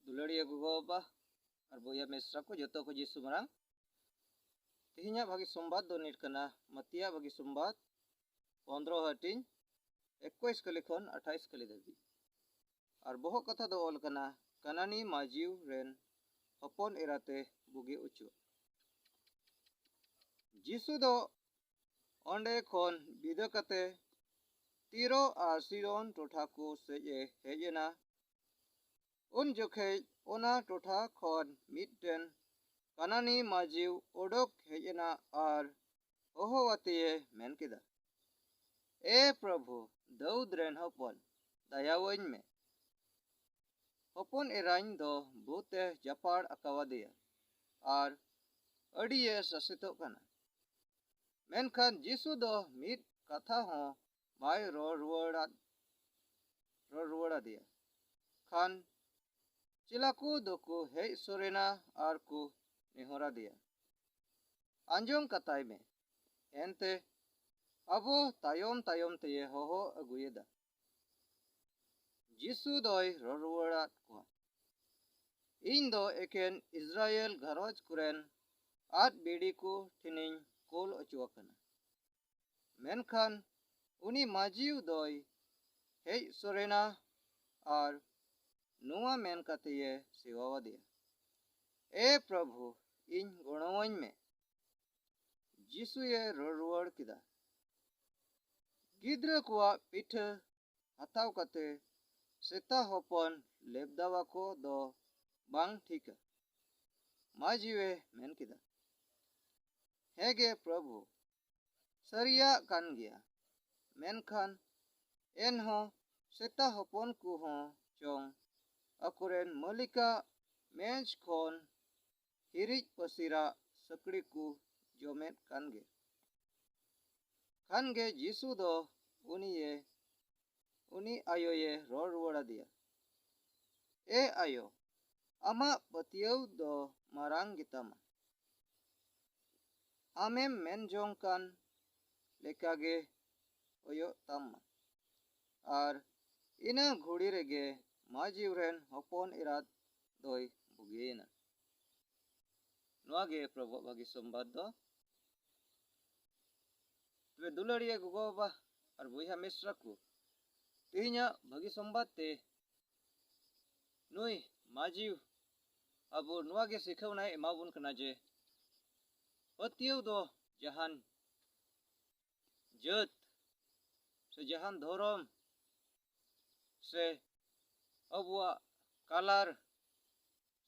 ᱫᱩᱞᱟᱹᱲᱤᱭᱟᱹ ᱜᱚᱜᱚ ᱵᱟᱵᱟ ᱟᱨ ᱵᱚᱭᱦᱟ ᱢᱤᱥᱨᱟ ᱠᱚ ᱡᱚᱛᱚ ᱠᱚ ᱡᱤᱥᱩ ᱢᱟᱨᱟᱝ ᱛᱮᱦᱮᱧᱟᱜ ᱵᱷᱟᱹᱜᱤ ᱥᱚᱢᱵᱟᱫ ᱫᱚ ᱱᱤᱴ ᱠᱟᱱᱟ ᱢᱟᱹᱛᱤᱭᱟᱜ ᱵᱷᱟᱹᱜᱤ ᱥᱚᱢᱵᱟᱫ ᱯᱚᱱᱨᱚ ᱦᱟᱹᱴᱤᱧ ᱮᱠᱩᱥ ᱠᱟᱹᱞᱤ ᱠᱷᱚᱱ ᱟᱴᱷᱟᱭᱤᱥ ᱠᱟᱹᱞᱤ ᱫᱷᱟᱹᱵᱤᱡ ᱟᱨ ᱵᱚᱦᱚᱜ ᱠᱟᱛᱷᱟ ᱫᱚ ᱚᱞ ᱠᱟᱱᱟ ᱠᱟᱱᱟᱱᱤ ᱢᱟᱡᱤᱣ ᱨᱮᱱ ᱦᱚᱯᱚᱱ ᱮᱨᱟᱛᱮ ᱵᱩᱜᱤ ᱚᱪᱚᱜ ᱡᱤᱥᱩ ᱫᱚ ᱚᱸᱰᱮ ᱠᱷᱚᱱ ᱵᱤᱫᱟᱹ ᱠᱟᱛᱮ ᱛᱤᱨᱚ ᱟᱨ ᱥᱤᱨᱚᱱ ᱴᱚᱴᱷᱟ ᱠᱚ ᱥᱮᱡ ᱮ ᱦᱮᱡ ᱮᱱᱟ ᱩᱱ ᱡᱚᱠᱷᱮᱡ ᱚᱱᱟ ᱴᱚᱴᱷᱟ ᱠᱷᱚᱱ ᱢᱤᱫᱴᱮᱱ ᱠᱟᱱᱟᱱᱤ ᱢᱟᱹᱡᱷᱤᱣ ᱚᱰᱚᱠ ᱦᱮᱡ ᱮᱱᱟ ᱟᱨ ᱦᱚᱦᱚ ᱟᱛᱮᱭᱮ ᱢᱮᱱ ᱠᱮᱫᱟ ᱮ ᱯᱨᱚᱵᱷᱩ ᱫᱟᱹᱣᱫᱽ ᱨᱮᱱ ᱦᱚᱯᱚᱱ ᱫᱟᱭᱟᱣᱟᱹᱧ ᱢᱮ ᱦᱚᱯᱚᱱ ᱮᱨᱟᱧ ᱫᱚ ᱵᱩᱛᱮ ᱡᱟᱯᱟᱲ ᱟᱠᱟᱣᱟᱫᱮᱭᱟ ᱟᱨ ᱟᱹᱰᱤᱭᱮ ᱥᱟᱥᱮᱛᱚᱜ ᱠᱟᱱᱟ ᱢᱮᱱᱠᱷᱟᱱ ᱡᱤᱥᱩ ᱫᱚ ᱢᱤᱫ ᱠᱟᱛᱷᱟ ᱦᱚᱸ ᱵᱟᱭ ᱨᱚᱲ ᱨᱩᱣᱟᱹᱲᱟᱫ ᱨᱚᱲ ᱨᱩᱣᱟᱹᱲ ᱟᱫᱮᱭᱟ ᱠᱷᱟᱱ ᱪᱮᱞᱟ ᱠᱚ ᱫᱚᱠᱚ ᱦᱮᱡ ᱥᱚᱨᱮᱱᱟ ᱟᱨ ᱠᱚ ᱱᱮᱦᱚᱨ ᱟᱫᱮᱭᱟ ᱟᱸᱡᱚᱢ ᱠᱟᱛᱟᱭ ᱢᱮ ᱮᱱᱛᱮ ᱟᱵᱚ ᱛᱟᱭᱚᱢ ᱛᱟᱭᱚᱢ ᱛᱮᱭᱮ ᱦᱚᱦᱚ ᱟᱹᱜᱩᱭᱮᱫᱟ ᱡᱤᱥᱩ ᱫᱚᱭ ᱨᱚᱲ ᱨᱩᱣᱟᱹᱲᱟᱫ ᱠᱚᱣᱟ ᱤᱧ ᱫᱚ ᱮᱠᱮᱱ ᱤᱥᱨᱟᱭᱮᱞ ᱜᱷᱟᱨᱚᱸᱡᱽ ᱠᱚᱨᱮᱱ ᱟᱫ ᱵᱤᱲᱤ ᱠᱚ ᱴᱷᱮᱱᱤᱧ ᱠᱳᱞ ᱚᱪᱚ ᱟᱠᱟᱱᱟ ᱢᱮᱱᱠᱷᱟᱱ ᱩᱱᱤ ᱢᱟᱡᱤᱣ ᱫᱚᱭ ᱦᱮᱡ ᱥᱚᱨᱮᱱᱟ ᱟᱨ ᱱᱚᱣᱟ ᱢᱮᱱ ᱠᱟᱛᱮᱭᱮ ᱥᱮᱣᱟᱣᱟᱫᱮᱭᱟ ᱮ ᱯᱨᱚᱵᱷᱩ ᱤᱧ ᱜᱚᱲᱚᱣᱟᱹᱧ ᱢᱮ ᱡᱤᱥᱩᱭᱮ ᱨᱚᱲ ᱨᱩᱣᱟᱹᱲ ᱠᱮᱫᱟ ᱜᱤᱫᱽᱨᱟᱹ ᱠᱚᱣᱟᱜ ᱯᱤᱴᱷᱟᱹ ᱦᱟᱛᱟᱣ ᱠᱟᱛᱮ ᱥᱮᱛᱟ ᱦᱚᱯᱚᱱ ᱞᱮᱵᱫᱟᱣᱟᱠᱚ ᱫᱚ ᱵᱟᱝ ᱴᱷᱤᱠᱟ ᱢᱟᱡᱤᱣᱮ ᱢᱮᱱ ᱠᱮᱫᱟ ᱦᱮᱸ ᱜᱮ ᱯᱨᱚᱵᱷᱩ ᱥᱟᱹᱨᱤᱭᱟᱜ ᱠᱟᱱ ᱜᱮᱭᱟ ᱢᱮᱱᱠᱷᱟᱱ ᱮᱱᱦᱚᱸ ᱥᱮᱛᱟ ᱦᱚᱯᱚᱱ ᱠᱚᱦᱚᱸ ᱪᱚᱝ ᱟᱠᱚᱨᱮᱱ ᱢᱟᱹᱞᱤᱠᱟᱜ ᱢᱮᱡᱽ ᱠᱷᱚᱱ ᱦᱤᱨᱤᱡ ᱯᱟᱹᱥᱤᱨᱟᱜ ᱥᱟᱹᱠᱲᱤ ᱠᱚ ᱡᱚᱢᱮᱫ ᱠᱟᱱ ᱜᱮ ᱠᱷᱟᱱ ᱜᱮ ᱡᱤᱥᱩ ᱫᱚ ᱩᱱᱤᱭᱮ ᱩᱱᱤ ᱟᱭᱳᱭᱮ ᱨᱚᱲ ᱨᱩᱣᱟᱹᱲ ᱟᱫᱮᱭᱟ, ᱮ ᱟᱭᱳ, ᱟᱢᱟᱜ ᱯᱟᱹᱛᱭᱟᱹᱣ ᱫᱚ ᱢᱟᱨᱟᱝ ᱜᱮᱛᱟᱢᱟ᱾ ᱟᱢᱮᱢ ᱢᱮᱱ ᱡᱚᱝ ᱠᱟᱱ ᱞᱮᱠᱟ ᱜᱮ ᱦᱳᱭᱳᱜ ᱛᱟᱢ ᱢᱟ᱾ ᱟᱨ ᱤᱱᱟᱹ ᱜᱷᱩᱲᱤ ᱨᱮᱜᱮ ᱢᱟᱹᱡᱤᱣ ᱨᱮᱱ ᱦᱚᱯᱚᱱ ᱮᱨᱟᱛ ᱫᱚᱭ ᱵᱩᱜᱤᱭᱮᱱᱟ᱾ ᱱᱚᱣᱟ ᱜᱮ ᱯᱨᱚᱵᱷᱚᱜ ᱵᱷᱟᱹᱜᱤ ᱥᱚᱢᱵᱟᱫ ᱫᱚ ᱛᱚᱵᱮ ᱫᱩᱞᱟᱹᱲᱤᱭᱟᱹ ᱜᱚᱜᱚ ᱵᱟᱵᱟ ᱟᱨ ᱵᱚᱭᱦᱟ ᱢᱤᱥᱨᱟ ᱠᱚ ᱛᱮᱦᱮᱧᱟᱜ ᱵᱷᱟᱹᱜᱤ ᱥᱚᱢᱵᱟᱫ ᱛᱮ ᱱᱩᱭ ᱢᱟᱹᱡᱷᱤ ᱟᱵᱚ ᱱᱚᱣᱟ ᱜᱮ ᱥᱤᱠᱷᱟᱹᱣᱱᱟᱭ ᱮᱢᱟᱵᱚᱱ ᱠᱟᱱᱟ ᱡᱮ ᱯᱟᱹᱛᱭᱟᱹᱣ ᱫᱚ ᱡᱟᱦᱟᱱ ᱡᱟᱹᱛ ᱥᱮ ᱡᱟᱦᱟᱱ ᱫᱷᱚᱨᱚᱢ ᱥᱮ ᱟᱵᱚᱣᱟᱜ ᱠᱟᱞᱟᱨ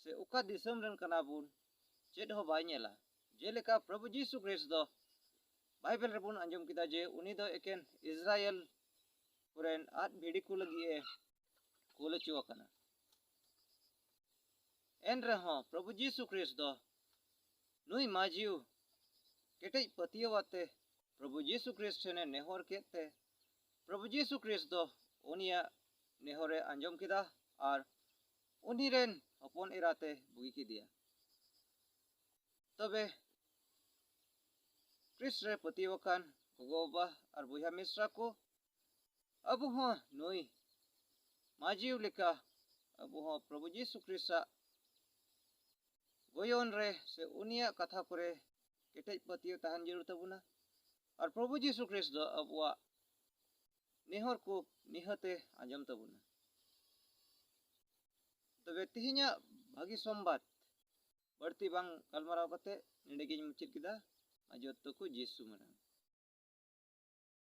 ᱥᱮ ᱚᱠᱟ ᱫᱤᱥᱚᱢ ᱨᱮᱱ ᱠᱟᱱᱟ ᱵᱚᱱ ᱪᱮᱫ ᱦᱚᱸ ᱵᱟᱭ ᱧᱮᱞᱟ ᱡᱮᱞᱮᱠᱟ ᱯᱨᱚᱵᱷᱩ ᱡᱤᱥᱩ ᱠᱨᱤᱥ ᱫᱚ ᱵᱟᱭᱵᱮᱞ ᱨᱮᱵᱚᱱ ᱟᱸᱡᱚᱢ ᱠᱮᱫᱟ ᱡᱮ ᱩᱱᱤ ᱫᱚ ᱮᱠᱮᱱ ᱤᱥᱨᱟᱭᱮᱞ ᱠᱚᱨᱮᱱ ᱟᱫ ᱵᱷᱤᱰᱤ ᱠᱚ ᱞᱟᱹᱜᱤᱫ ᱮ ᱠᱩᱞ ᱦᱚᱪᱚ ᱟᱠᱟᱱᱟ ᱮᱱ ᱨᱮᱦᱚᱸ ᱯᱨᱚᱵᱷᱩ ᱡᱤᱥᱩ ᱠᱨᱤᱥ ᱫᱚ ᱱᱩᱭ ᱢᱟᱡᱤᱣ ᱠᱮᱴᱮᱡ ᱯᱟᱹᱛᱭᱟᱹᱣ ᱟᱛᱮ ᱯᱨᱚᱵᱷᱩ ᱡᱤᱥᱩ ᱠᱨᱤᱥ ᱴᱷᱮᱱᱮ ᱱᱮᱦᱚᱨ ᱠᱮᱫ ᱛᱮ ᱯᱨᱚᱵᱷᱩ ᱡᱤᱥᱩ ᱠᱨᱤᱥ ᱫᱚ ᱩᱱᱤᱭᱟᱜ ᱱᱮᱦᱚᱨᱮ ᱟᱸᱡᱚᱢ ᱠᱮᱫᱟ ᱟᱨ ᱩᱱᱤ ᱨᱮᱱ ᱦᱚᱯᱚᱱ ᱮᱨᱟᱛᱮ ᱵᱩᱜᱤ ᱠᱮᱫᱮᱭᱟ ᱛᱚᱵᱮ ᱠᱨᱤᱥ ᱨᱮ ᱯᱟᱹᱛᱭᱟᱹᱣ ᱟᱠᱟᱱ ᱜᱚᱜᱚ ᱵᱟᱵᱟ ᱟᱨ ᱵᱚᱭᱦᱟ ᱢᱤᱥᱨᱟ ᱠᱚ ᱟᱵᱚ ᱦᱚᱸ ᱱᱩᱭ ᱢᱟᱡᱤᱣ ᱞᱮᱠᱟ ᱟᱵᱚ ᱦᱚᱸ ᱯᱨᱚᱵᱷᱩ ᱡᱤᱥᱩ ᱠᱨᱤᱥᱟᱜ ᱜᱚᱭᱚᱱ ᱨᱮ ᱥᱮ ᱩᱱᱤᱭᱟᱜ ᱠᱟᱛᱷᱟ ᱠᱚᱨᱮ ᱠᱮᱴᱮᱡ ᱯᱟᱹᱛᱭᱟᱹᱣ ᱛᱟᱦᱮᱱ ᱡᱟᱹᱨᱩᱲ ᱛᱟᱵᱚᱱᱟ ᱟᱨ ᱯᱨᱚᱵᱷᱩ ᱡᱤᱥᱩ ᱠᱨᱤᱥ ᱫᱚ ᱟᱵᱚᱣᱟᱜ ᱱᱮᱦᱚᱨ ᱠᱚ ᱱᱤᱦᱟᱹᱛᱮ ᱟᱸᱡᱚᱢ ᱛᱟᱵᱚᱱᱟ ᱛᱚᱵᱮ ᱛᱮᱦᱮᱧᱟᱜ ᱵᱷᱟᱹᱜᱤ ᱥᱚᱢᱵᱟᱫ ᱵᱟᱹᱲᱛᱤ ᱵᱟᱝ ᱜᱟᱞᱢᱟᱨᱟᱣ ᱠᱟᱛᱮ ᱱᱚᱰᱮ ᱜᱤᱧ ᱢᱩᱪᱟᱹᱫ ᱠᱮᱫᱟ ᱟᱨ ᱡᱚᱛᱚ ᱠᱚ ᱡᱤᱥᱩ ᱢᱟᱨᱟᱝ